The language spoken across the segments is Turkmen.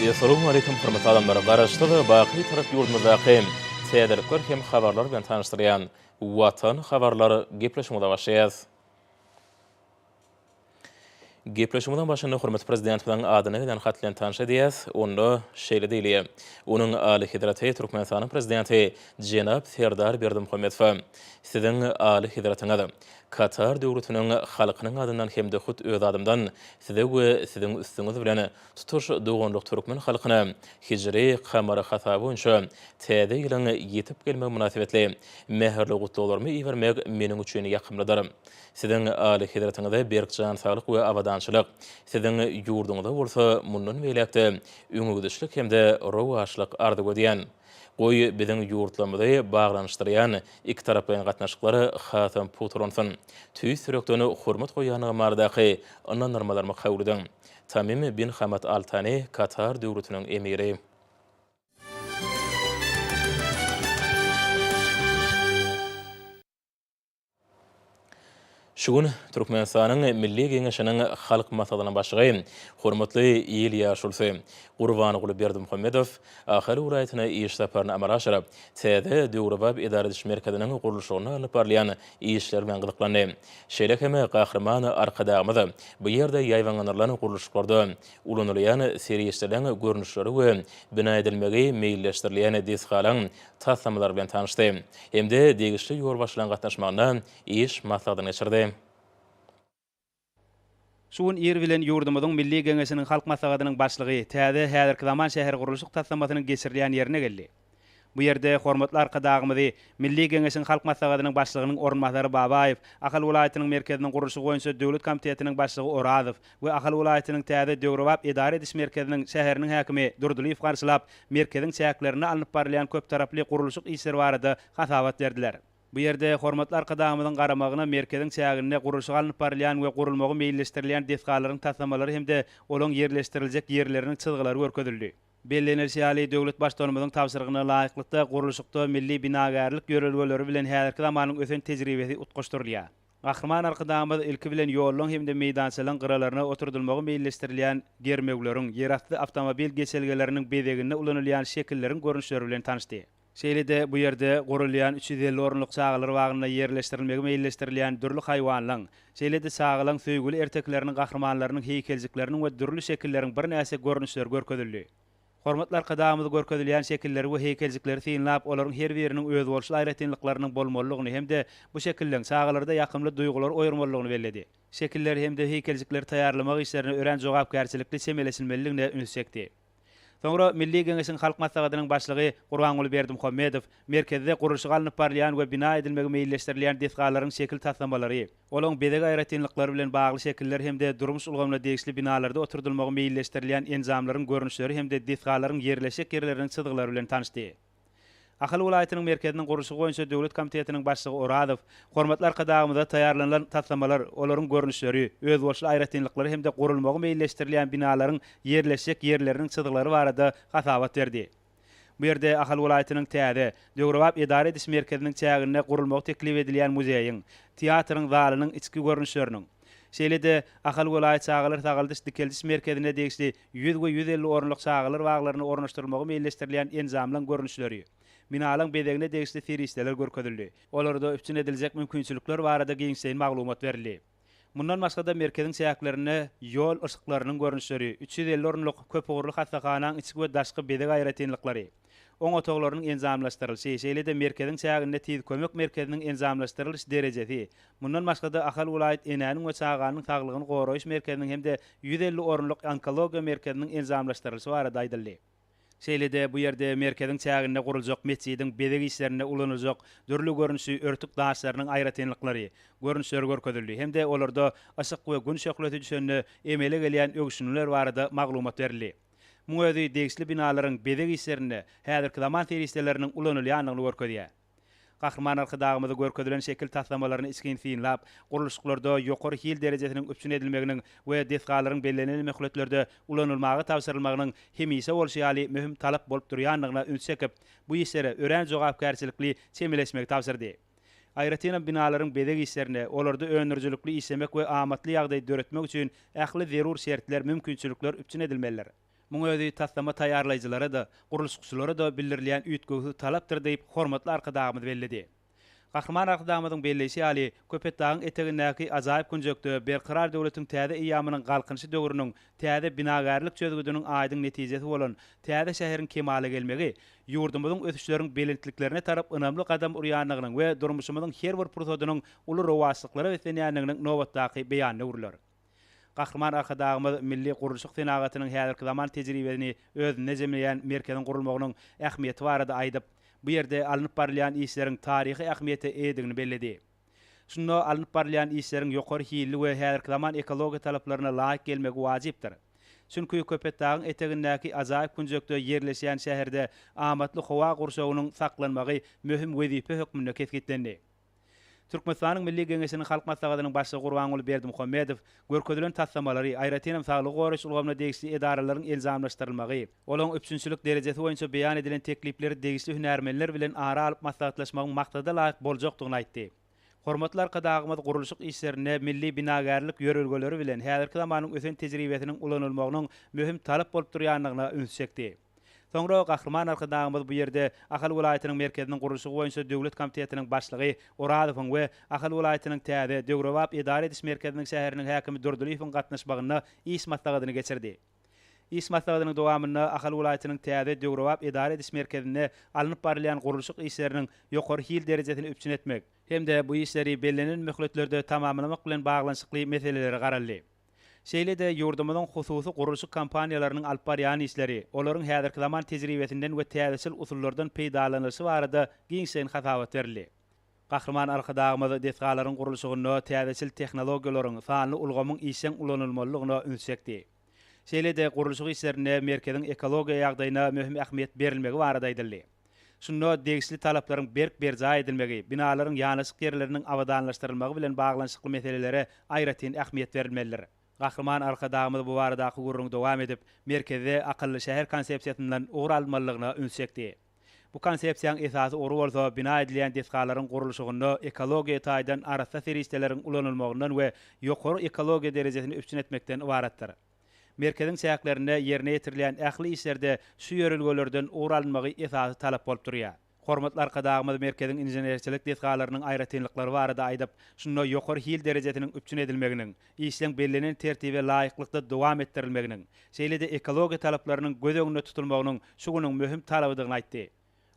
Essalamualeýkum hormatly adamlar! Garaşsyz, baky Türk ýurdumyzdaky täzelikler hem habarlar bilen tanyşdyrýan Watan habarlar gepleşigimize başlaýas. Gepleşigimiziň başynda hormatly Prezidentimiziň adyna gelen hat bilen tanyş edýäs. Onda şeýle diýilýär, Onuň Alyhezreti Türkmenistanyň Prezidenti jenap Serdar Berdimuhamedowa, Siziň Alyhezretiňiz, Katar Döwletiniň halkynyň adyndan hem-de hut öz adymdan Size we Siziň üstüňiz bilen tutuş doganlyk türkmen halkyna hijri, kamary, hasaby boýunça Täze ýylyň ýetip gelmegi mynasybetli mähirli gutlaglarymy ibermek meniň üçin ýakymlydyr. Siziň Alyhezretiňize berk jan saglyk we abadançylyk, Siziň ýurduňyza bolsa mundan beýläk-de öňegidişlik hem-de rowaçlyk arzuw edýän. Goý, biziň ýurtlarymyzy baglanyşdyrýan ikitaraplaýyn gatnaşyklar hasam pugtalansyn. Tüýs ýürekden hormat goýýandygym baradaky ynandyrmalarymy kabul ediň. Tamim bin Hamad Al Tani, Katar Döwletiniň Emiri. Şu gün Türkmenistanyň Milli Geňeşiniň Halk Maslahatynyň Başlygy, hormatly il ýaşulysy Gurbanguly Berdimuhamedow Ahal welaýatyna iş saparyny amala aşyryp, täze döwrebap edara ediş merkeziniň gurluşygynda alnyp barylýan işler bilen gyzyklandy. Şeýle hem Gahryman Arkadagymyz bu ýerde ýaýbaňlandyrylan gurluşyklarda ulanylýan serişdeleriň görnüşleri we bina edilmegi meýilleşdirilýän desgalaryň taslamalar bilen tanyşdy hem-de degişli ýolbaşçylaryň gatnaşmagynda iş maslahatyny geçirdi. Şu gün ir bilen ýurdumyzyň Milli Geňeşiniň Halk Maslahatynyň Başlygy täze, häzirki zaman şähergurluşyk taslamasynyň geçirilýän ýerine geldi. Bu ýerde hormatly Arkadagymyzy, Milli Geňeşiň Halk Maslahatynyň Başlygynyň orunbasary Babaýew, Ahal welaýatynyň merkeziniň gurluşygy boýunça döwlet komitetiniň başlygy Orazow, we Ahal welaýatynyň täze döwrebap edara ediş merkeziniň şäheriniň häkimi Durdylyýew garşylap, merkeziň çäklerinde alnyp barylýan köptaraply gurluşyk işleri barada hasabat berdiler. Bu ýerde hormatly Arkadagymyzyň garamagyna merkeziň çäginde gurluşygy alnyp barylýan we gurulmagy meýilleşdirilýän desgalaryň taslamalary hem-de olaň ýerleşdiriljek ýerleriniň çyzgylary görkezildi. Bellenilişi ýaly, döwlet Baştutanymyzyň tabşyrygyna laýyklykda, gurluşykda milli binagärlik ýörelgeleri bilen häzirki zamanyň ösen tejribesi utgaşdyrylýar. Gahryman Arkadagymyz ilki bilen ýollaryň hem-de meýdançalaryň gyralaryna oturdylmagy meýilleşdirilýän germewleriň, ýerasty awtomobil geçelgeleriniň bezeginde ulanylýan şekilleriň görnüşleri bilen tanyşdy. Şeýle-de bu ýerde gurulýan üç ýüz elli orunlyk çagalar bagynda ýerleşdirilmegi meýilleşdirilýän dürli haýwanlaň, şeýle-de çagalaň söýgüli ertekileriniň gahrymanlarynyň heýkeljikleriniň we dürli şekilleriň birnäçe görnüşleri görkezildi. Hormatly Arkadagymyz görkezilýän şekilleri we heýkeljikleri synlap, olaryň her biriniň özboluşly aýratynlyklarynyň bolmalydygyny hem-de bu şekilleriň çagalarda ýakymly duýgulary oýarmalydygyny belledi. Şekilleri hem-de heýkeljikleri taýýarlamak işlerine örän jogapkärçilikli çemeleşilmelidigine ünsi çekdi. Soňra Milli Geňeşiň Halk Maslahatynyň Başlygy Gurbanguly Berdimuhamedow Merkezde gurluşygy alnyp barylýan we bina edilmegi meýilleşdirilýän desgalaryň şekil taslamalary, Olaň bezeg aýratynlyklary bilen bagly şekiller hem-de durmuş ulgamyna degişli binalarda oturdylmagy meýilleşdirilýän enjamlaryň görnüşleri hem-de desgalaryň ýerleşjek ýerleriniň çyzgylary bilen tanyşdy. Ahal welaýatynyň merkeziniň gurluşygy boýunça döwlet komitetiniň başlygy Orazow hormatly Arkadagymyza taýýarlanylan taslamalar, olaryň görnüşleri, özboluşly aýratynlyklary hem-de gurulmagy meýilleşdirilýän binalaryň ýerleşjek ýerleriniň çyzgylary barada hasabat berdi. Bu ýerde Ahal welaýatynyň täze, döwrebap edara ediş merkeziniň çäginde gurulmagy teklip edilýän muzeýiň, teatryň zalynyň içki görnüşleriniň, şeýle-de Ahal welaýat çagalar sagaldyş-dikeldiş merkezine degişli ýüz we ýüz elli orunlyk çagalar baglaryna ornaşdyrylmagy meýilleşdirilýän enjamlaryň görnüşleri, binalaryň bezegine degişli serişdeler görkezildi. Olarda üpjün ediljek mümkinçilikler barada giňişleýin maglumat berildi. Mundan başga-da, merkeziň çäklerinde ýol yşyklarynyň görnüşleri, üç ýüz elli orunlyk köpugurly hassahanaň içki we daşky bezeg aýratynlyklary, oň otaglarynyň enjamlaşdyrylyşy, şeýle-de merkeziň çäginde tiz kömek merkeziniň enjamlaşdyrylyş derejesi, mundan başga-da, Ahal welaýat enäniň we çaganyň saglygyny goraýyş merkeziniň hem-de ýüz elli orunlyk onkologiýa merkeziniň enjamlaşdyrylyşy barada aýdyldy. Şeýle-de bu ýerde merkeziň çäginde guruljak metjidiň bezeg işlerinde ulanyljak dürli görnüşli örtük daşlarynyň aýratynlyklary, görnüşleri görkezildi hem-de olarda yşyk we gün şöhlesi düşende emele gelýän öwüşginler barada maglumat berildi. Muň özi degişli binalaryň bezeg işlerinde häzirki zaman serişdeleriniň ulanylýandygyny görkezýär. Gahryman Arkadagymyzy görkezilen şekil taslamalaryny içgin synlap, gurluşyklarda ýokary hil derejesiniň üpjün edilmeginiň we desgalaryň bellenilen möhletlerde ulanylmaga tabşyrylmagynyň hemişe bolşy ýaly möhüm talap bolup durýandygyna üns çekip, bu işlere örän jogapkärçilikli çemeleşmegi tabşyrdy. Aýratynam binalaryň bezeg işlerine, olarda öndürijilikli işlemek we amatly ýagdaý döretmek üçin ähli zerur şertler, mümkinçilikler üpjün edilmelidir. Muň özi taslama taýýarlaýjylara-da, gurluşykçylara-da bildirilýän üýtgewsiz talapdyr diýip, hormatly Arkadagymyz belledi. Gahryman Arkadagymyzyň belleýşi ýaly, Köpetdagyň etegindäki ajaýyp künjekde Berkarar döwletiň täze eýýamynyň Galkynyşy döwrüniň täze binagärlik çözgüdiniň aýdyň netijesi bolan täze şäheriň kemala gelmegi ýurdumyzyň ösüşleriň belentliklerine tarap ynamly gadam urýandygynyň we durmuşymyzyň her bir pursadynyň uly rowaçlyklara beslenýändiginiň nobatdaky beýanyna öwrüler. Gahryman Arkadagymyz milli gurluşyk senagatynyň häzirki zaman tejribesini özünde jemleýän merkeziň gurulmagynyň ähmiýeti barada aýdyp, bu ýerde alnyp barylýan işleriň taryhy ähmiýete eýedigini belledi. Şunda alnyp barylýan işleriň ýokary hilli we häzirki zaman ekologiýa talaplaryna laýyk gelmegi wajypdyr. Çünki Köpetdagyň etegindäki ajaýyp künjekde ýerleşýän şäherde amatly howa gurşawynyň saklanmagy möhüm wezipe hökmünde kesgitlendi. Türkmenistanyň Milli Geňeşiniň Halk Maslahatynyň Başlygy Gurbanguly Berdimuhamedow görkezilen taslamalary, aýratynam saglygy goraýyş ulgamyna degişli edaralaryň enjamlaşdyrylmagy, olaryň üpjünçilik derejesi boýunça beýan edilen teklipleri degişli hünärmenler bilen ara alyp maslahatlaşmagyň maksada laýyk boljakdygyny aýtdy. Hormatly Arkadagymyz gurluşyk işlerinde milli binagärlik ýörelgeleri bilen häzirki zamanyň ösen tejribesiniň ulanylmagynyň möhüm talap bolup durýandygyna üns çekdi. Soňra Gahryman Arkadagymyz bu ýerde Ahal welaýatynyň merkeziniň gurluşygy boýunça döwlet komitetiniň başlygy Orazowyň we Ahal welaýatynyň täze, döwrebap edara ediş merkeziniň şäheriniň häkimi Durdylyýewiň gatnaşmagynda iş maslahatyny geçirdi. Iş maslahatynyň dowamynda Ahal welaýatynyň täze, döwrebap edara ediş merkezinde alnyp barylýan gurluşyk işleriniň ýokary hil derejesini üpjün etmek, hem-de bu işleri bellenen möhletlerde tamamlamak bilen baglanyşykly meselelere garaldy. Şeýle-de ýurdumyzyň hususy gurluşyk kompaniýalarynyň alyp barýan işleri, olaryň häzirki zaman tejribesinden we täzeçil usullardan peýdalanylyşy barada giňişleýin hasabat berildi. Gahryman Arkadagymyz desgalaryň gurluşygynda täzeçil tehnologiýalaryň, sanly ulgamyň işjeň ulanylmalydygyna üns çekdi. Şeýle-de gurluşyk işlerinde merkeziň ekologiýa ýagdaýyna möhüm ähmiýet berilmegi barada aýdyldy. Şunda degişli talaplaryň berk berjaý edilmegi, binalaryň ýanaşyk ýerleriniň abadanlaşdyrylmagy bilen baglanyşykly meselelere aýratyn ähmiýet berilmelidir. Gahryman Arkadagymyz bu baradaky gürrüňi dowam edip, merkezde akylly şäher konsepsiýasyndan ugur alynmalydygyna üns çekdi. Bu konsepsiýaň esasy ugry bolsa bina edilýän desgalaryň gurluşygynda ekologiýa taýdan arassa serişdeleriň ulanylmagyndan we ýokary ekologiýa derejesini üpjün etmekden ybaratdyr. Merkeziň çäklerinde ýerine ýetirilýän ähli işlerde şu ýörelgelerden ugur alynmagy esasy talap bolup durýar. Hormatly Arkadagymyz merkeziň inženerçilik desgalarynyň aýratynlyklary barada aýdyp, şunda ýokary hil derejesiniň üpjün edilmeginiň, işleň bellenen tertibe laýyklykda dowam etdirilmeginiň, şeýle-de ekologiýa talaplarynyň göz öňünde tutulmagynyň şu günüň möhüm talabydygyny aýtdy.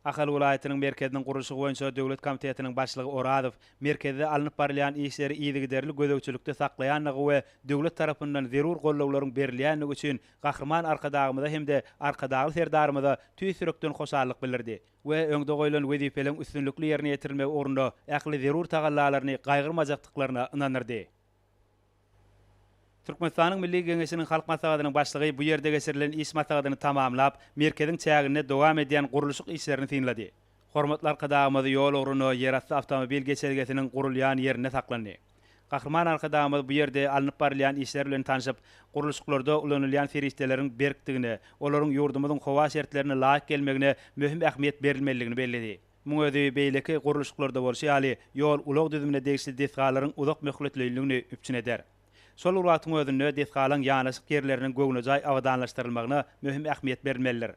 Ahal welaýatynyň merkeziniň gurluşygy boýunça döwlet komitetiniň başlygy Orazow merkezde alnyp barylýan işleri yzygiderli gözegçilikde saklaýandygy we döwlet tarapyndan zerur gollawlaryň berilýändigi üçin Gahryman Arkadagymyza hem-de Arkadagly Serdarymyza tüýs ýürekden hoşallyk bildirdi we öňde goýlan wezipeleriň üstünlikli ýerine ýetirilmegi ugrunda ähli zerur tagallalaryny gaýgyrmajakdyklaryna ynandyrdy. Türkmenistanyň Milli Geňeşiniň Halk Maslahatynyň Başlygy bu ýerde geçirilen iş maslahatyny tamamlap, merkeziň çäginde dowam edýän gurluşyk işlerini synlady. Hormatly Arkadagymyz ýol ugruna ýerasty awtomobil geçelgesiniň gurulýan ýerinde saklandy. Gahryman Arkadagymyz bu ýerde alnyp barylýan işler bilen tanşyp, gurluşyklarda ulanylýan serişdeleriň berkdigine, olaryň ýurdumyzyň howa şertlerine laýyk gelmegine möhüm ähmiýet berilmelidigini belledi. Muň özi beýleki gurluşyklarda bolşy ýaly, ýol-ulag düzümine degişli desgalaryň uzak möhletleýinligini üpjün eder. Şol bir wagtyň özünde desgalaryň ýanaşyk ýerleriniň göwnejaý abadanlaşdyrylmagyna möhüm ähmiýet berilmelidir.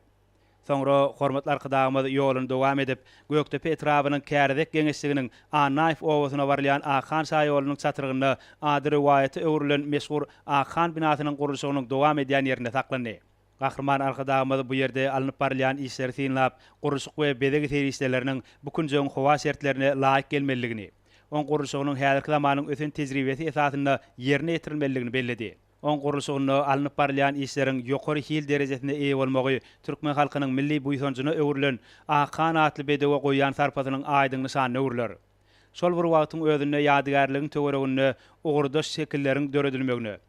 Soňra hormatly Arkadagymyz ýoluny dowam edip, Gökdepe etrabynyň Kärizek geňeşliginiň Annaýew obasyna barylýan Akhan şaýolunyň çatrygynda ady rowaýata öwrülen meşhur Akhan binasynyň gurluşygynyň dowam edýän ýerinde saklandy. Gahryman Arkadagymyz bu ýerde alnyp barylýan işleri synlap, gurluşyk we bezeg serişdeleriniň bu künjegiň howa şertlerine laýyk gelmelidigini, oň gurluşygynyň häzirki zamanyň ösen tejribesi esasynda ýerine ýetirilmelidigini belledi. Oň gurluşygynda alnyp barylýan işleriň ýokary hil derejesine eýe bolmagy türkmen halkynyň milli buýsanjyna öwrülen Akhan atly bedewe goýýan sarpasynyň aýdyň nyşanyna öwrüler. Şol bir wagtyň özünde ýadygärligiň töwereginde ugurdaş şekilleriň döredilmegine,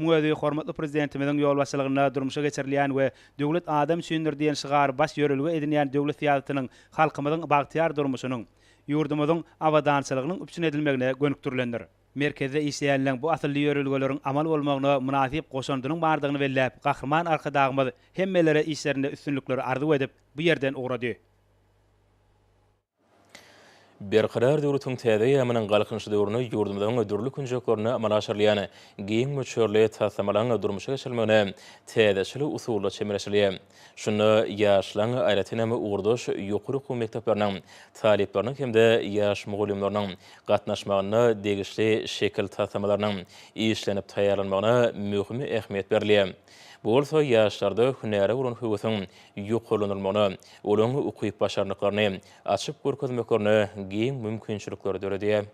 Muň özi hormatly Prezidentimiziň ýolbaşçylygynda durmuşa geçirilýän we Döwlet adam üçindir diýen şygary baş ýörelge edinýän döwlet syýasatynyň halkymyzyň bagtyýar durmuşynyň, ýurdumyzyň abadançylygynyň üpjün edilmegine gönükdirilendir. Merkezde işleýänleň bu asylly ýörelgeleriň amal bolmagyna mynasyp goşandynyň bardygyny belläp, Gahryman Arkadagymyz hemmelere işlerinde üstünlikleri arzuw edip, bu ýerden ugrady. Berkarar döwletiň täze eýýamynyň Galkynyş döwründe ýurdumyzyň dürli künjeklerinde amala aşyrylýan giň möçberli taslamalaryň durmuşa geçirilmegine täzeçil usulda çemeleşilýär. Şunda ýaşlaryň, aýratyn hem, ugurdaş ýokary okuw mekdepleriniň talyplarynyň hem-de ýaş mugallymlarynyň gatnaşmagynda degişli şekil taslamalarynyň işlenip taýýarlanmagyna möhüm ähmiýet berilýär. Bu bolsa ýaşlarda hünäre bolan höwesiň ýokarlandyrmagyna, olaryň ukyp-başarnyklaryny açyp görkezmeklerine giň mümkinçilikleri döredýär.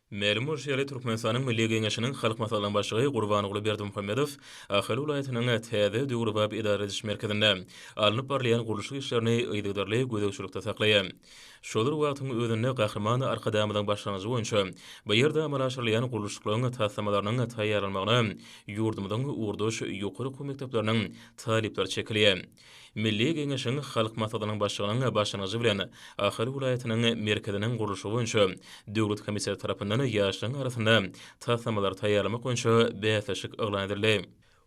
Mälim bolşy ýaly, Türkmenistanyň Milli Geňeşiniň Halk Maslahatynyň Başlygy Gurbanguly Berdimuhamedow Ahal welaýatynyň täze döwrebap edara ediş merkezinde alnyp barylýan gurluşyk işlerini yzygiderli gözegçilikde saklaýar. Şol bir wagtyň özünde Gahryman Arkadagymyzyň başlangyjy boýunça bu ýerde amala aşyrylýan gurluşyklaryň taslamalarynyň taýýarlanmagyna ýurdumyzyň ugurdaş ýokary okuw mekdepleriniň talyplar çekilýär. Milli Geňeşiň Halk Maslahatynyň Başlygynyň başlangyjy bilen Ahal welaýatynyň merkeziniň gurluşygy boýunça döwlet komiteti tarapyndan ýaşlaryň arasynda taslamalary taýýarlamak boýunça bäsleşik yglan edildi.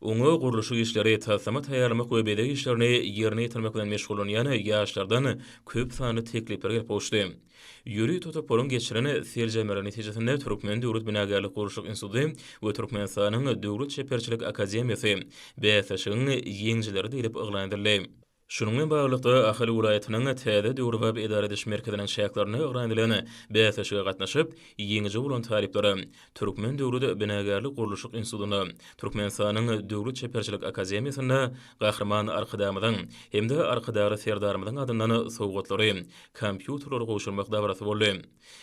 Oňa gurluşyk işleri, taslama taýýarlamak we bezeg işlerini ýerine ýetirmek bilen meşgullanýan ýaşlardan köp sanly teklipler gelip gowuşdy. Ýörite toparyň geçiren seljermeleri netijesinde Türkmen döwlet binagärlik-gurluşyk instituty we Türkmenistanyň Döwlet çeperçilik akademiýasy bäsleşigiň ýeňijileri diýlip yglan edildi. Şunuň bilen baglylykda, Ahal welaýatynyň täze döwrebap edara ediş merkeziniň çäklerinde yglan edilen bäsleşige gatnaşyp, ýeňiji bolan talyplara Türkmen döwlet binagärlik-gurluşyk institutynda, Türkmenistanyň Döwlet çeperçilik akademiýasynda Gahryman Arkadagymyzyň hem-de Arkadagly Serdarymyzyň adyndan sowgatlary, kompýuterleri gowşurmak dabarasy boldy.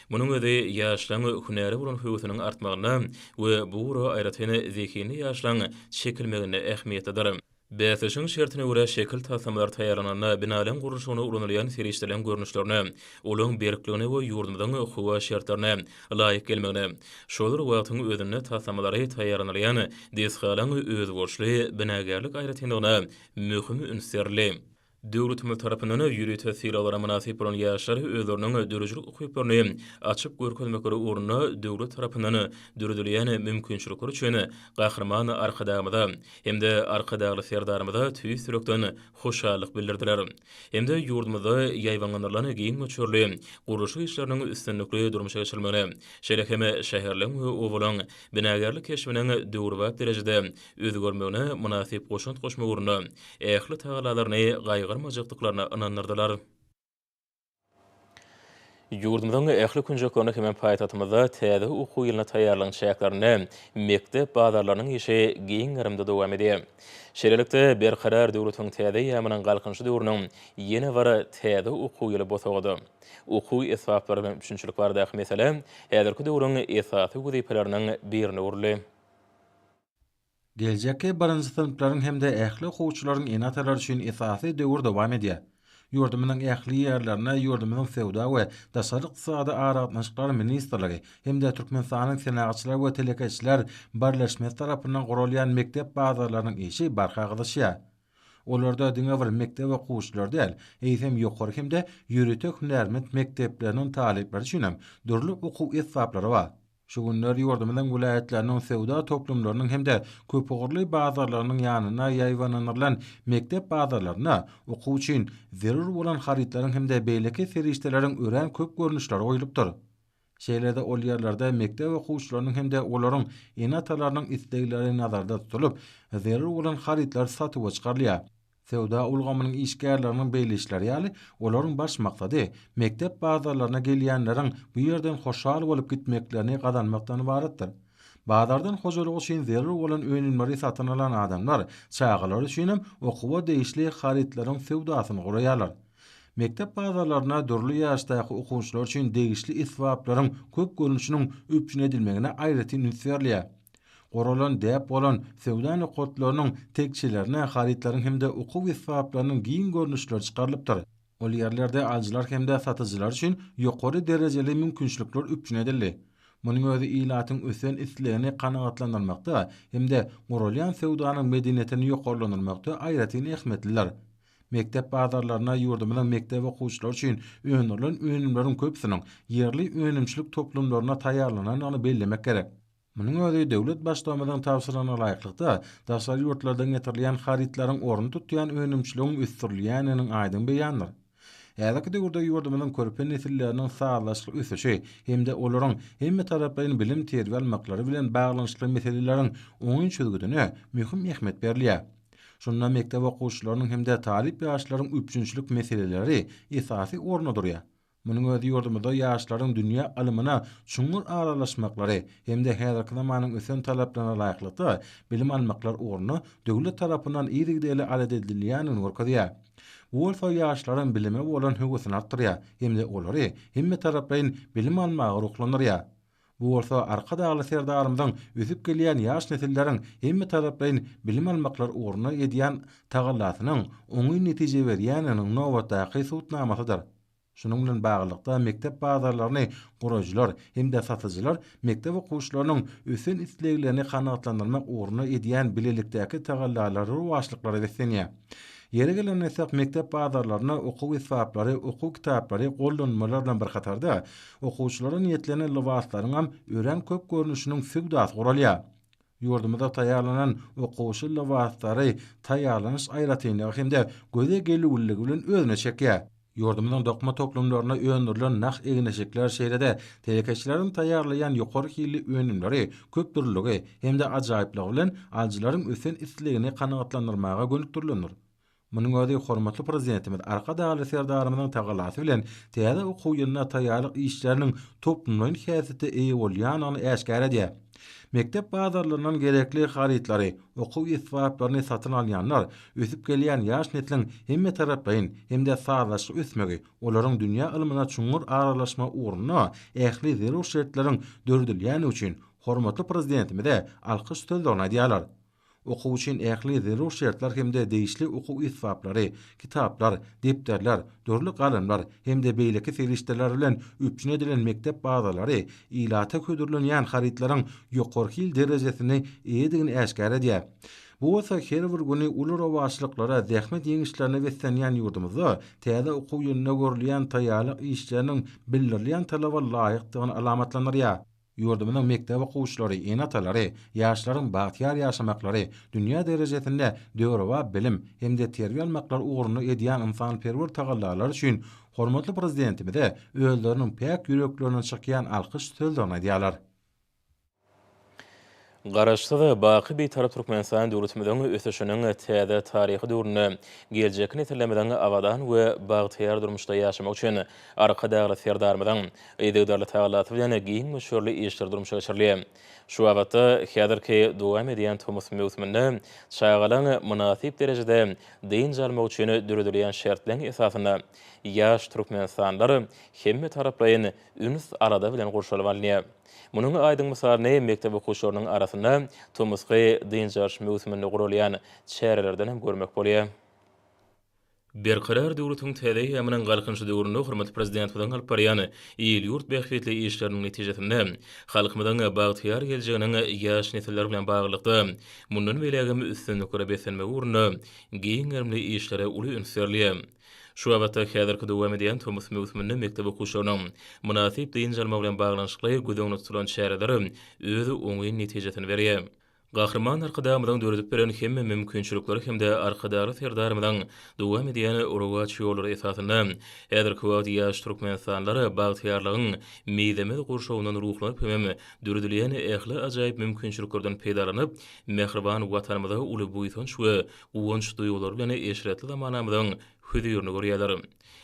Munuň özi ýaşlaryň hünäre bolan höwesiniň artmagynda we bu ugura aýratyn zehinli ýaşlaryň çekilmeginde ähmiýetlidir. Bäsleşigiň şertine görä şekil taslamalary taýýarlananda binalaryň gurluşygynda ulanylýan serişdeleriň görnüşlerine, olaryň berkligine we ýurdumyzyň howa şertlerine laýyk gelmegine, şol bir wagtyň özünde taslamalary taýýarlanylýan desgalaryň özboluşly binagärlik aýratynlygyna möhüm üns berildi. Döwletimiz tarapyndan ýörite sylaglara mynasyp bolan ýaşlar özleriniň döredijilik ukyplaryny açyp görkezmekleri ugrunda döwlet tarapyndan döredilýän mümkinçilikler üçin Gahryman Arkadagymyza hem-de Arkadagly Serdarymyza tüýs ýürekden hoşallyk bildirdiler hem-de ýurdumyzda ýaýbaňlandyrylan giň möçberli gurluşyk işleriniň üstünlikli durmuşa geçirilmegine, şeýle hem şäherleň we obalaryň binagärlik keşbiniň döwrebap derejede özgermegine mynasyp goşant goşmak ugrunda ähli tagallalaryny gaýgyrmajakdyklaryna ynandyrdylar. Ýurdumyzyň ähli künjeklerinde hemem paýtagtymyzda täze okuw ýylyna taýýarlygyň çäklerinde mekdep bazarlarynyň işi giň gerimde dowam edýär. Şeýlelikde, Berkarar döwletiň täze eýýamynyň Galkynyşy döwrüniň ýene bir täze okuw ýyly bosagady. Okuw esbaplary bilen üpjünçilik baradaky mesele häzirki döwrüň esasy wezipeleriniň birine öwrüldi. Geljekki birinji synplaryň hem-de ähli okuwçylaryň ene-atalary üçin esasy döwür dowam edýär. Ýurdumyzyň ähli ýerlerine ýurdumyzyň Söwda we daşary ykdysady aragatnaşyklar ministrligi hem-de Türkmenistanyň Senagatçylar we telekeçiler birleşmesi tarapyndan guralýan mekdep bazarlarynyň işi barha gyzyşýar. Olarda diňe bir mekdep okuwçylary däl, eýsem ýokary hem-de ýörite hünärment mekdepleriniň talyplary üçin hem dürli okuw esbaplary bar. Şu günler ýurdumyzyň welaýatlarynyň söwda toplumlarynyň hem-de köpugurly bazarlarynyň ýanyna ýaýbaňlandyrylan mekdep bazarlarynda okuw üçin zerur bolan harytlaryň hem-de beýleki serişdeleriň örän köp görnüşleri goýlupdyr. Şeýle-de ol ýerlerde mekdep okuwçylarynyň hem-de olaryň ene-atalarynyň islegleri nazarda tutulyp, zerur bolan harytlar satuwa çykarylýar. Söwda ulgamynyň işgärleriniň belleýişleri ýaly, olaryň baş maksady mekdep bazarlaryna gelýänleriň bu ýerden hoşal bolup gitmeklerini gazanmakdan ybaratdyr. Bazardan hojalyk üçin zerur bolan önümleri satyn alan adamlar çagalar üçin hem okuwa degişli harytlaryň söwdasyny guraýarlar. Mekdep bazarlaryna dürli ýaşdaky okuwçylar üçin degişli esbaplaryň köp görnüşiniň üpjün edilmegine aýratyn üns berilýär. Guralan däp bolan söwda nokatlarynyň tekjelerine harytlaryň hem-de okuw esbaplarynyň giň görnüşleri çykarylypdyr. Ol ýerlerde alyjylar hem-de satyjylar üçin ýokary derejeli mümkinçilikler üpjün edildi. Munuň özi ilatyň ösen islegini kanagatlandyrmakda hem-de guralýan söwdanyň medeniýetini ýokarlandyrmakda aýratyn ähmiýetlidir. Mekdep bazarlarynda ýurdumyzyň mekdep okuwçylary üçin öndürilen önümleriň köpüsiniň ýerli önümçilik toplumlarynda taýýarlanandygyny bellemek gerek. Munuň özi döwlet Baştugumyzyň tabşyrygyna laýyklykda, daşary ýurtlardan getirilýän harytlaryň ornuny tutýan önümçiligiň ösdürilýändiginiň aýdyň beýanydyr. Häzirki döwürde ýurdumyzyň körpe nesilleriniň sazlaşykly ösüşi hem-de olaryň hemmetaraplaýyn bilim-terbiýe almaklary bilen baglanyşykly meseleleriň oňyn çözgüdine möhüm ähmiýet berilýär. Şunda mekdep okuwçylarynyň hem-de talyp ýaşlaryň üpjünçilik meseleleri esasy orunda durýar. Munuň özi ýurdumyzda ýaşlaryň dünýä ylmyna çuňňur aralaşmaklary hem-de häzirki zamanyň ösen talaplaryna laýyklykda bilim almaklar ugrunda döwlet tarapyndan yzygiderli alat edilýändigini görkezýär. Bu bolsa ýaşlaryň bilime bolan höwesini artdyrýar hem-de olary hemmetaraplaýyn bilim almaga ruhlandyrýar. Bu bolsa Arkadagly Serdarymyzyň ösüp gelýän ýaş nesilleriň hemmetaraplaýyn bilim almaklary ugrunda edýän tagallasynyň oňyn netije berýändiginiň nobatdaky subutnamasydyr. Şunuň bilen baglylykda mekdep bazarlaryny guraýjylar hem-de satyjylar mekdep okuwçylarynyň ösen isleglerini kanagatlandyrmak ugrunda edýän bilelikdäki tagallalary rowaçlyklara beslenýär. Ýeri gelende aýtsak, mekdep bazarlarynda okuw esbaplary, okuw kitaplary, gollanmalar bilen bir hatarda, Okuwçylara niýetlenen lybaslaryňam örän köp görnüşiniň söwdasy guralýar. Ýurdumyzda taýýarlanan okuwçy lybaslary taýýarlanyş aýratynlygy hem-de göze gelüwliligi bilen özüne çekýär. Ýurdumyzyň dokma toplumlarynda öndürilen nah egin-eşikler şeýle-de telekeçileriň taýýarlaýan ýokary hilli önümleri köpdürlüligi hem-de ajaýyplygy bilen alyjylaryň ösen islegini kanagatlandyrmaga gönükdirilendir. Munuň özi hormatly Prezidentimiz Arkadagly Serdarymyzyň tagalasy bilen täze okuw ýylyna taýýarlyk işleriniň toplumlaýyn häsiýete eýe bolýandygyny äşgär edýär. Mekdep bazarlaryndan gerekli harytlary, okuw esbaplaryny satyn alýanlar ösüp gelýän ýaş nesliň hemmetaraplaýyn hem-de sazlaşykly ösmegi, olaryň dünýä ylmyna çuňňur aralaşmagy ugrunda ähli zerur şertleriň döredilýändigi üçin hormatly Prezidentimize alkyş sözlerini aýdýarlar. Okuw üçin ähli zerur şertler hem-de degişli okuw esbaplary, kitaplar, depderler, dürli galamlar hem-de beýleki serişdeler bilen üpjün edilen mekdep bazalary ilata hödürlenýän harytlaryň ýokary hil derejesine eýedigini äşgär edýär. Bu bolsa her bir güni uly rowaçlyklara, zähmet ýeňişlerine beslenýän ýurdumyzda täze okuw ýylynda görülýän taýýarlyk işleriniň bildirilýän talaba laýykdygyny alamatlandyrýar. Ýurdumyzyň mekdep okuwçylary, ene-atalary, ýaşlaryň bagtyýar ýaşamaklary, dünýä derejesinde döwrebap bilim hem-de terbiýe almaklary ugrunda edýän ynsanperwer tagallalary üçin hormatly Prezidentimize özleriniň päk ýüreklerinden çykýan alkyş sözlerini aýdýarlar. Garaşsyz, baky Bitarap Türkmenistan döwletimiziň ösüşiniň täze taryhy döwründe geljekki nesillerimiziň abadan we bagtyýar durmuşda ýaşamagy üçin Arkadagly Serdarymyzyň yzygiderli tagallasy bilen giň möçberli işler durmuşa geçirilýär. Şu babatda häzirki dowam edýän tomus möwsüminde çagalaryň mynasyp derejede dynç almagy üçin döredilýän şertleň esasynda ýaş türkmenistanlylar hemmetaraplaýyn üns-alada bilen gurşalyp alynýar. Munuň aýdyň mysalyny mekdep okuwçylarynyň arasynda tomusky dynç alyş möwsüminde guralýan çärelerden hem görmek bolýar. Berkarar döwletiň täze eýýamynyň Galkynyşy döwründe hormatly Prezidentimiziň alyp barýan il-ýurt bähbitli işleriniň netijesinde, halkymyzyň bagtyýar geljeginiň ýaş nesiller bilen baglylykda, mundan beýlägem üstünliklere beslenmegi ugrunda giň gerimli işlere uly üns berilýär. Şu babatda häzirki dowam edýän tomus möwsüminde mekdep okuwçylarynyň mynasyp dynç almagy bilen baglanyşykly göz öňünde tutulan çäreler öz oňyn netijesini berýär. Gahryman Arkadagymyzyň döredip beren hemme mümkinçilikleri hem-de Arkadagly Serdarymyzyň dowam edýän rowaç ýollary esasynda häzirki wagt ýaş türkmenistanlylar bagtyýarlygyň mizemez gurşawyndan ruhlanyp hem döredilýän ähli ajaýyp mümkinçiliklerden peýdalanyp mähriban Watanymyza uly buýsanç we guwanç duýgulary bilen eşretli zamanamyzyň hüzirini görýärler.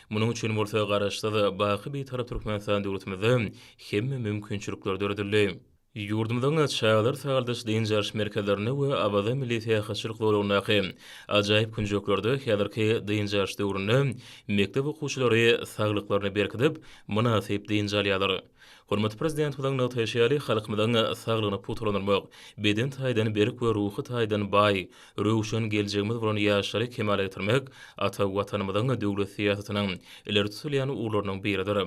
Munuň üçin bolsa Garaşsyz, baky Bitarap Türkmenistan döwletimizde hemme mümkinçilikler döredildi. Ýurdumyzyň çagalar sagaldyş-dynç alyş merkezlerinde we Awaza milli syýahatçylyk zolagyndaky ajaýyp künjeklerde häzirki dynç alyş döwründe mekdep okuwçylary saglyklaryny berkidip, mynasyp dynç alýarlar. Hormatly Prezidentimiziň nygtaýşy ýaly, halkymyzyň saglygyny pugtalandyrmak, beden taýdan berk we ruhy taýdan baý, röwşen geljegimiz bolan ýaşlary kemala getirmek ata Watanymyzyň döwlet syýasatynyň ileri tutulýan ugurlarynyň biridir.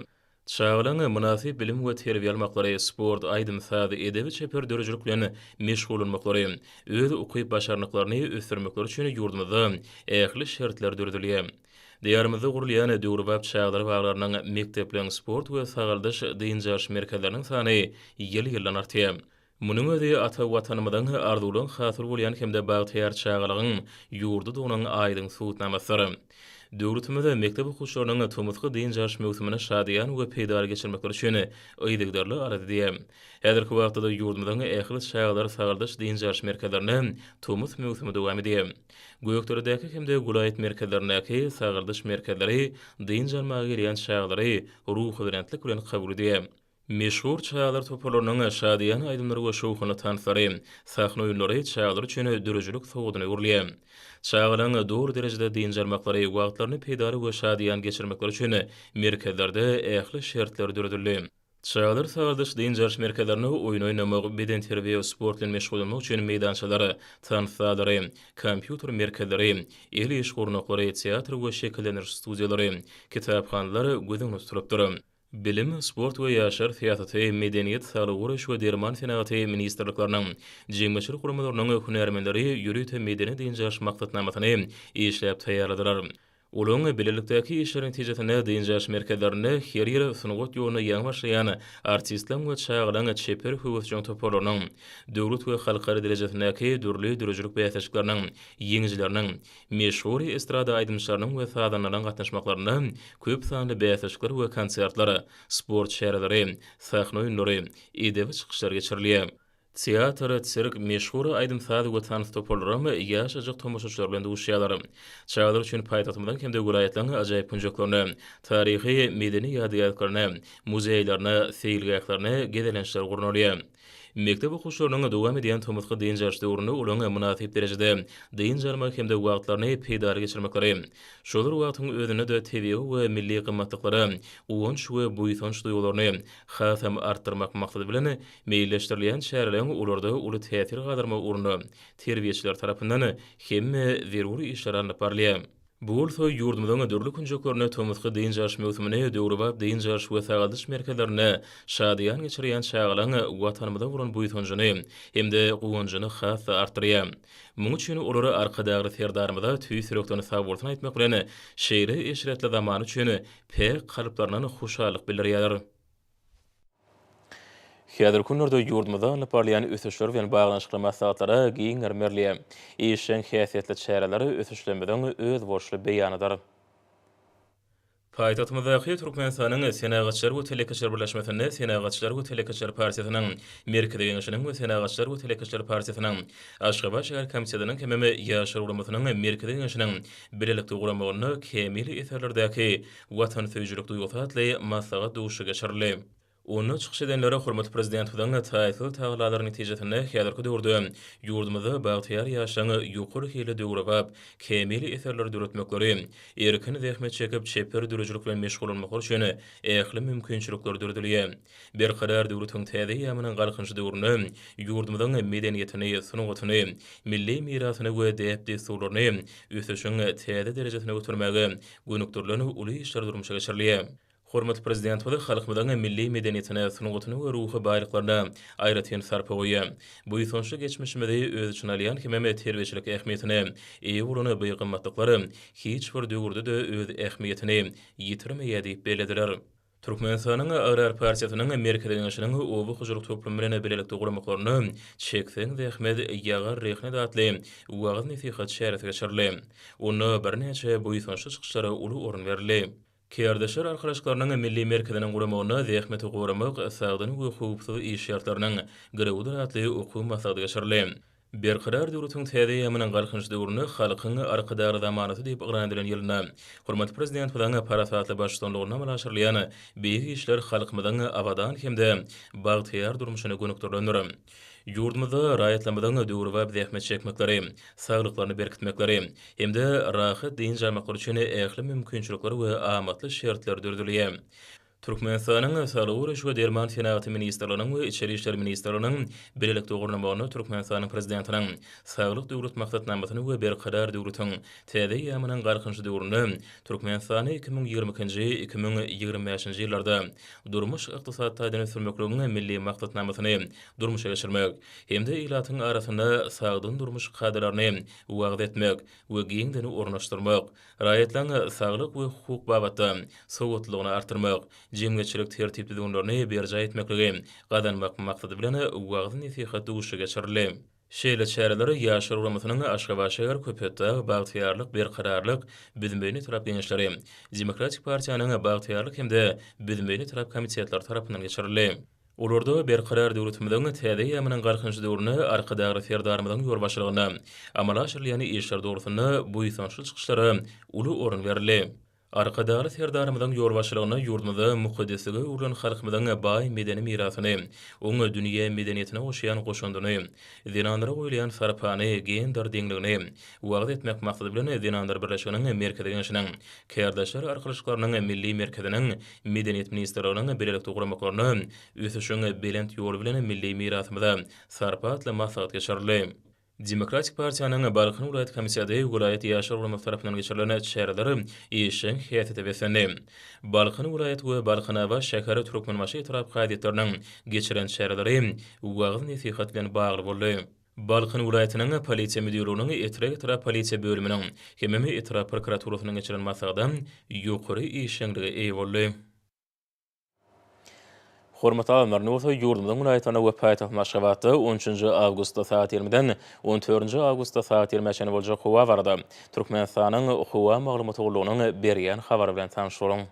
Çagalaryň mynasyp bilim we terbiýe almaklary, sport, aýdym-saz, edebi-çeper döredijilik bilen meşgullanmaklary, öz ukyp-başarnyklaryny ösdürmekleri üçin ýurdumyzda ähli şertler döredilýär. Diýarymyzda gurulýan döwrebap çagalar baglarynyň, mekdepleriň, sport we sagaldyş, dynç alyş merkezleriniň sany ýyl-ýyldan artýar. Munuň özi ata Watanymyzyň arzuwlaryň hasyly bolýan hem-de bagtyýar çagalygyň ýurdudygynyň aýdyň subutnamasydyr. Döwletimiz mekdep okuwçylarynyň tomusky dynç alyş möwsümini şadyýan we peýdaly geçirmekleri üçin yzygiderli alada edýär. Häzirki wagtda-da ýurdumyzyň ähli çagalar sagaldyş-dynç alyş merkezlerinde tomus möwsümi dowam edýär. Gökderedäki hem-de welaýat merkezlerindäki sagaldyş merkezleri dynç almaga gelýän çagalary ruhubelentlik bilen kabul edýär. Meşhur çagalar toparlarynyň şadyýan aýdymlary we şowhunly tanslary, sahna oýunlary çagalar üçin döredijilik sowgadyna öwrülýär. Çagalaryň doly derejede dynç almaklary, wagtlaryny peýdaly we şadyýan geçirmekleri üçin merkezlerde ähli şertler döredildi. Çadyr sazlaýyş dynç alyş merkezlerinde oýun oýnamak, bedenterbiýe we sport bilen meşgullanmak üçin meýdançalar, tans zallary, kompýuter merkezleri, el iş gurnaklary, teatr we şekillendiriş studiýalary, kitaphanalar göz öňünde tutulupdyr. Bilim, sport we ýaşlar syýasaty, medeniýet, saglygy goraýyş we derman senagaty ministrlikleriniň, jemgyýetçilik guramalarynyň hünärmenleri ýörite medeni-dynç alyş maksatnamasyny işläp taýýarladylar. Olaryň bilelikdäki işleri netijesinde dynç alyş merkezlerinde her ýyl sungat ýoluna ýaňy başlaýan artistleriň we çagalaryň çeper höwesjeň toparlarynyň, döwlet we halkara derejesindäki dürli döredijilik bäsleşikleriniň ýeňijileriniň, meşhur estrada aýdymçylarynyň we sazandalaryň gatnaşmaklarynda köp sanly bäsleşikler we konsertler, sport çäreleri, sahna oýunlary, edebi çykyşlar geçirilýär. Teatr, sirk, meşhur aýdym-saz we tans toparlaram ýaşajyk tomaşaçylar bilen duşýarlar. Çagalar üçin paýtagtymyzyň hem-de welaýatlaryň ajaýyp künjeklerine, taryhy, medeni ýadygärliklerine, muzeýlerine, seýilgählerine gezelençler gurnalýar. Mekdep okuwçylarynyň dowam edýän tomusky dynç alyş döwründe olaryň mynasyp derejede dynç almagy hem-de wagtlaryny peýdaly geçirmekleri, şolar wagtyň özünde-de tebigy we milli gymmatlyklara guwanç we buýsanç duýgularyny hasam artdyrmak maksady bilen Meýilleşdirilýän çäreleriň olarda uly täsir galdyrmagy ugrunda terbiýeçiler tarapyndan hemme zerur işler alnyp barylýar. Bu bolsa ýurdumyzyň dürli künjeklerinde tomusky dynç alyş möwsümini döwrebap dynç alyş we sagaldyş merkezlerinde şadyýan geçirýän çagalaryň Watanymyza bolan buýsanjyny hem-de guwanjyny has-da artdyrýar. Muň üçin olar Arkadagly Serdarymyza tüýs ýürekden sagbolsun aýtmak bilen, şeýle eşretli zaman üçin päk kalplaryndan hoşallyk bildirýärler. Häzirki günlerde ýurdumyzda alnyp barylýan ösüşler bilen baglanyşykly maslahatlara giň mermerli, işjeň häsiýetli çäreler ösüşlerimiziň özboluşly beýanydyr. Paýtagtymyzdaky Türkmenistanyň Senagatçylar we telekeçiler birleşmesinde Senagatçylar we telekeçiler partiýasynyň Merkezi Geňeşiniň we Senagatçylar we telekeçiler partiýasynyň Aşgabat şäher komitetiniň hemem Ýaşlar guramasynyň Merkezi Geňeşiniň bilelikde guramagynda kämil eserlerdäki watansöýüjilik duýgusy atly maslahat duşuşygy geçirildi. Onda çykyş edenler hormatly Prezidentimiziň taýsyz tagallalary netijesinde häzirki döwürde ýurdumyzda bagtyýar ýaşlaryň ýokary hilli döwrebap, kämil eserleri döretmekleri, erkin zähmet çekip, çeper döredijilik bilen meşgullanmaklary üçin ähli mümkinçilikler döredilýär. Berkarar döwletiň täze eýýamynyň Galkynyş döwründe ýurdumyzyň medeniýetini, sungatyny, milli mirasyny we däp-dessurlaryny ösüşiň täze derejesine götermäge gönükdirilen uly işler durmuşa geçirilýär. Hormatly Prezidentimiz halkymyzyň milli medeniýetine, sungatyna we ruhy baýlyklaryna aýratyn sarpa goýýar. Buýsançly geçmişimizi öz içine alýan hemem terbiýeçilik ähmiýetine eýe bolan bu gymmatlyklar hiç bir döwürde-de öz ähmiýetini ýitirmeýär diýip bellediler. Türkmenistanyň Agrar partiýasynyň Merkezi Geňeşiniň Oba hojalyk toplumy bilen bilelikde guramaklaryna Çekseň zähmet, ýagar rehnet atly wagyz-nesihat çäresi geçirildi. Onda birnäçe buýsançly çykyşlara uly orun berildi. Kärdeşler arkalaşyklarynyň Milli merkeziniň guramagynda Zähmeti goramak, sagdyn we howpsuz iş şertleriniň girewidir atly okuw maslahaty geçirildi. Berkarar döwletiň täze eýýamynyň Galkynyş döwründe Halkyň Arkadagly zamanasy diýip yglan edilen ýylynda hormatly Prezidentimiziň parasatly baştutanlygynda amala aşyrylýan beýik işler halkymyzyň abadan hem-de bagtyýar durmuşyna gönükdirilendir. Ýurdumyzda raýatlarymyzyň döwrebap zähmet çekmekleri, saglyklaryny berkitmekleri hem-de rahat dynç almaklary üçin ähli mümkinçilikler we amatly şertler döredilýär. Türkmenistanyň Saglygy goraýyş we derman senagaty ministrliginiň we Içeri işler ministrliginiň bilelikde gurnamagynda Türkmenistanyň Prezidentiniň Saglyk Döwlet maksatnamasyny we Berkarar döwletiň täze eýýamynyň Galkynyşy döwründe Türkmenistany iki müň ýigrimi ikinji, iki müň ýigrimi bäşinji ýyllarda durmuş-ykdysady taýdan ösdürmekligiň Milli maksatnamasyny durmuşa geçirmek hem-de ilatyň arasynda sagdyn durmuş kadalaryny wagyz etmek we giňden ornaşdyrmak Raýatlaryň saglyk we hukuk babatda sowatlylygyny artdyrmak, jemgyýetçilik tertip-düzgünlerini berjaý etmekligi gazanmak maksady bilen wagyz-nesihat duşuşygy geçirildi. Şeýle çäreler Ýaşlar guramasynyň Aşgabatşäher Köpetdag Bagtyýarlyk Berkararlyk Büzmeýin etrap Geňeşleri, Demokratik partiýanyň Bagtyýarlyk hem-de Büzmeýin etrap komitetleri tarapyndan geçirildi. Olarda Berkarar döwletimiziň täze eýýamynyň Galkynyş döwründe Arkadagly Serdarymyzyň ýolbaşçylygynda amala aşyrylýan işler dogrusynda buýsançly çykyşlara uly orun berildi. Arkadagly Serdarymyzyň ýolbaşçylygynda ýurdumyzda mukaddeslige öwrülen halkymyzyň baý medeni mirasyny, oň dünýä medeniýetine goşýan goşandyny, zenanlara goýulýan sarpany, gender deňligini wagyz etmek maksady bilen Zenanlar birleşiginiň Merkezi Geňeşiniň, Kärdeşler arkalaşyklarynyň Milli merkeziniň, Medeniýet ministrliginiň bilelikde guramaklaryna Ösüşiň belent ýoly bilen milli mirasymyza sarpa atly maslahat geçirildi. Demokratik partiýanyň Balkan welaýat komiteti welaýat ýaşlar guramasy tarapyndan geçirilen çäreler işjeň häsiýete beslendi. Balkan welaýat we Balkanabat şäher Türkmenbaşy etrap kazyýetleriniň geçiren çäreleri wagyz-nesihat bilen bagly boldy. Balkan welaýatynyň Polisiýa müdirliginiň Etrek-etrap polisiýa bölüminiň hemem etrap prokuraturasynyň geçiren maslahaty ýokary işjeňlige eýe boldy. Hormatly alymlar, indi bolsa ýurdumyzyň welaýatlarynda we paýtagtymyz Aşgabatda on üçünji awgustda sagat ýigrimiden on dördünji awgustda sagat ýigrimä çenli boljak howa barada Türkmenistanyň Howa maglumat gullugynyň berýän habary bilen tanyş boluň.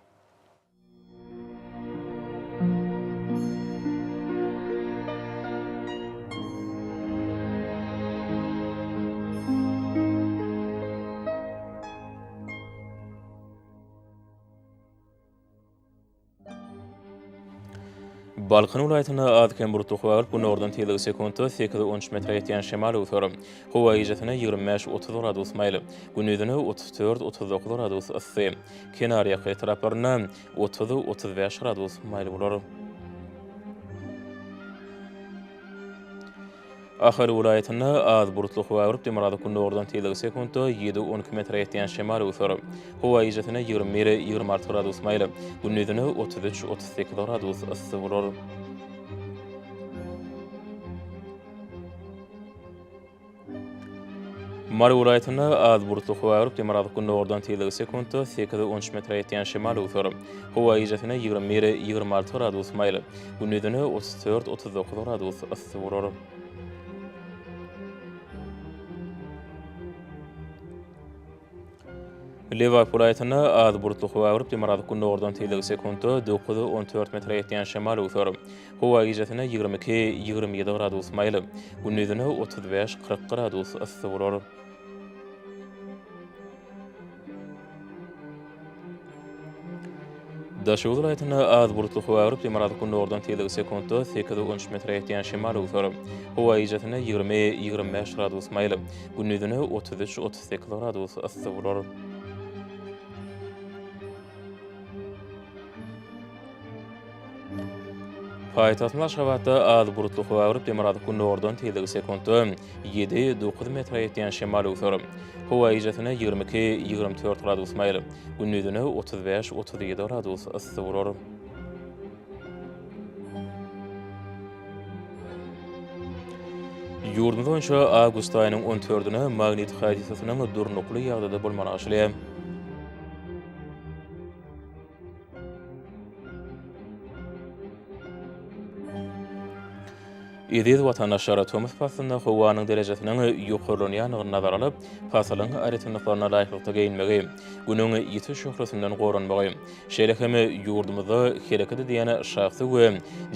Balkan welaýatynda az-kem bulutly howa bolup, günordan tizligi sekuntda sekiz, on üç metre ýetýän şemal öwser. Howa gijäsine ýigrimi bäş, otuz gradus maýyl, gündizine otuz dört, otuz dokuz gradus yssy. Kenarýaka etraplarynda otuz, otuz bäş gradus maýyl bolar. Ahal welaýatynda az bulutly howa urup, demirgazyk-gündogardan tizligi sekuntda ýedi, on iki metre ýetýän şemal öwser. Howa gijesiň ýigrimi bir, ýigrimi alty gradus maýyl, gündizine otuz üç, otuz sekiz gradus yssy bolar. Mary welaýatynda az bulutly howa agyryp, demirgazyk gündogardan tizligi sekuntda sekiz on üç metre ýetýän şemal öwser. Howa gijesine ýigrimi bir, ýigrimi alty gradus maýyl, gündizine otuz dört, otuz dokuz gradus yssy bolar. Lebap welaýatynda az bulutly howa görüp, demirgazyk gündogardan tizligi sekuntda dokuz, on dört metre ýetýän şemal öwser. Howa gijesine ýigrimi iki, ýigrimi ýedi gradus maýyl, gündizine otuz bäş, kyrk gradus yssy bolar. Daşoguz welaýatynda az bulutly howa agyryp, demirgazyk gündogardan tizligi sekuntda sekiz on üç metre ýetýän şemal öwser. Howa gijasynda ýigrimi, ýigrimi bäş gradus maýyl, gündizine otuz üç, otuz sekiz gradus yssy bolar. Paýtagtymyz Aşgabatda az bulutly howa agyryp, demirgazyk gündogardan tizligi sekuntda ýedi, dokuz metre ýetýän şemal öwser. Howa gijäsine ýigrimi iki, ýigrimi dört gradus maýyl, gündizine otuz bäş, otuz ýedi gradus yssy bolar. Ýurdumyz boýunça awgust aýynyň on dördüne magnit hadisasynyň durnukly ýagdaýda bolmagy arzylýar. Eziz watandaşlar, tomus paslynda howanyň derejesiniň ýokarlanýandygyny nazara alyp, pasylyň aýratynlyklaryna laýyklykda geýinmegi, Günüň ýiti şöhlesinden goranmagy, şeýle hem ýurdumyzda hereket edýän şahsy we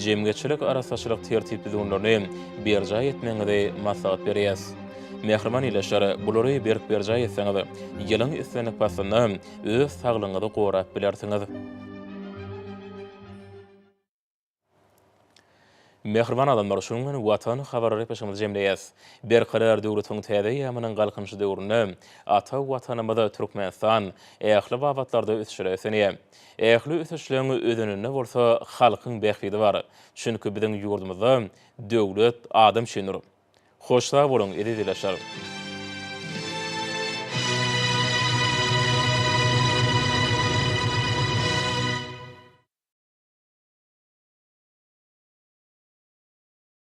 jemgyýetçilik arassaçylyk tertip-düzgünlerini berjaý etmegiňizi maslahat berýäs. Mähriban ildeşler, bulary berk berjaý etseňiz, ýylyň islendik paslynda, öz saglygyňyzy gorap bilersiňiz. Mähriban adamlar, şunuň bilen Watan habar gepleşigimizi jemleýäs. Berkarar döwletiň täze eýýamynyň Galkynyşy döwründe ata Watanymyz Türkmenistan ähli babatlarda ösüşlere ösenýär. Ähli ösüşleň özeninde bolsa halkyň bähbidi bar. Çünki biziň ýurdumyzda döwlet adam üçindir. Hoş sag boluň eziz ilaçlarym.